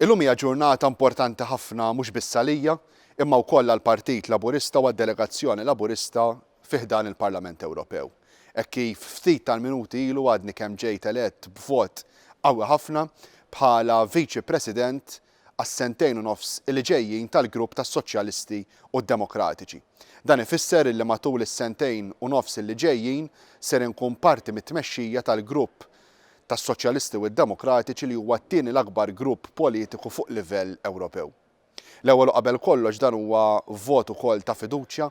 Illum hija ġurnata importanti ħafna mhux biss għalija, imma wkoll għall-Partit Laburista u għad-delegazzjoni Laburista fi ħdan il-Parlament Ewropew. Hekk kif ftit tal-minuti ilu għadni kemm ġejt elett b'vot qawwi ħafna bħala Viċi President għas-sentejn u nofs li ġejjin tal-Grupp tas-Soċjalisti u d-Demokratiċi. Dan ifisser illi matul is-sentejn u nofs li ġejjin ser inkun parti mit-tmexxija tal-Grupp tas-Soċjalisti u d-Demokratiċi li huwa t-tieni l-akbar grupp politiku fuq livell Ewropew. L-ewwel u qabel kollox dan huwa vot ukoll ta' fiduċja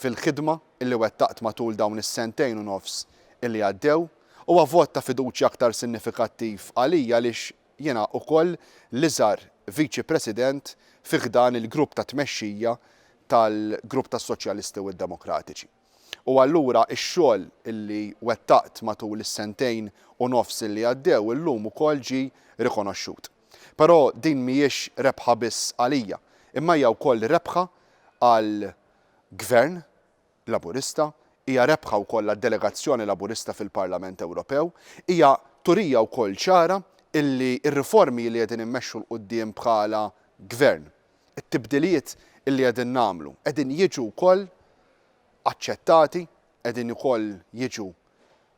fil-ħidma li wettaqt matul dawn is-sentejn u nofs li għaddew. Huwa vot ta' fiduċja aktar sinifikattiv għalija għaliex jiena ukoll l-iżgħar Viċi President fi ħdan il-grupp ta' tmexxija tal-grupp tas-Soċjalisti u d-Demokratiċi. U allura x-xogħol li wettaqt matul is-sentejn u nofs li għaddew illum ukoll ġie rikonoxxut. Però din mhijiex rebħa biss għalija, imma hija wkoll rebħa għal Gvern Laburista, hija rebħa wkoll għad-delegazzjoni Laburista fil-Parlament Ewropew, hija turija wkoll ċara li r-riformi li qegħdin immexxu 'l quddiem bħala Gvern, t-tibdiliet li qegħdin nagħmlu qegħdin jiġu wkoll aċċettati, qegħdin ukoll jiġu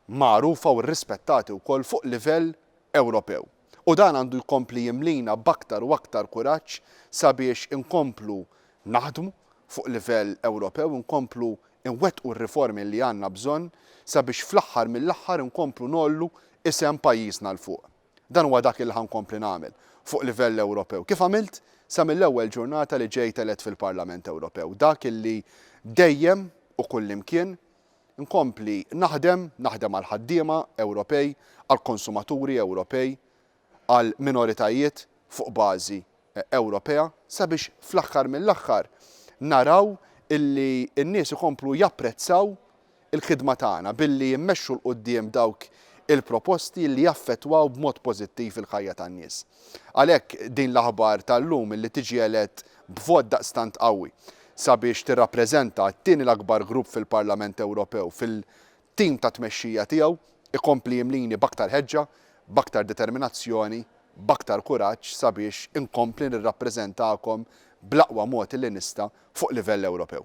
magħrufa u rrispettati wkoll fuq livell Ewropew. U dan għandu jkompli jimlina b'aktar u aktar kuraġġ sabiex inkomplu naħdmu fuq livell Ewropew, inkomplu nwettqu r-riformi li għandna bżonn sabiex fl-aħħar mill-aħħar inkomplu ngħollu isem pajjiżna 'l fuq. Dan huwa dak li ħa nkompli nagħmel fuq livell Ewropew, kif għamilt sa mill-ewwel ġurnata li ġejt elett fil-Parlament Ewropew, dak li dejjem u kullimkien nkompli naħdem, naħdem għall-ħaddiema Ewropej, għall-konsumaturi Ewropej, għall-minoritajiet fuq bażi Ewropea sabiex fl-aħħar mill-aħħar naraw illi n-nies ikomplu japprezzaw il-ħidma tagħna billi immexxu 'l quddiem dawk il-proposti li jaffettwaw b'mod pożittiv il-ħajja tan-nies. Għalhekk din l-aħbar tal-lum illi tiġi elett b'vot daqstant qawwi sabiex tirrappreżenta t-tieni l-akbar grupp fil-Parlament Ewropew fil Tim tat-tmexxija tiegħu jkompli jimlini b'aktar ħeġġa, b'aktar determinazzjoni, b'aktar kuraġġ sabiex inkompli nirrappreżentakom bl-aqwa mod li nista' fuq livell Ewropew.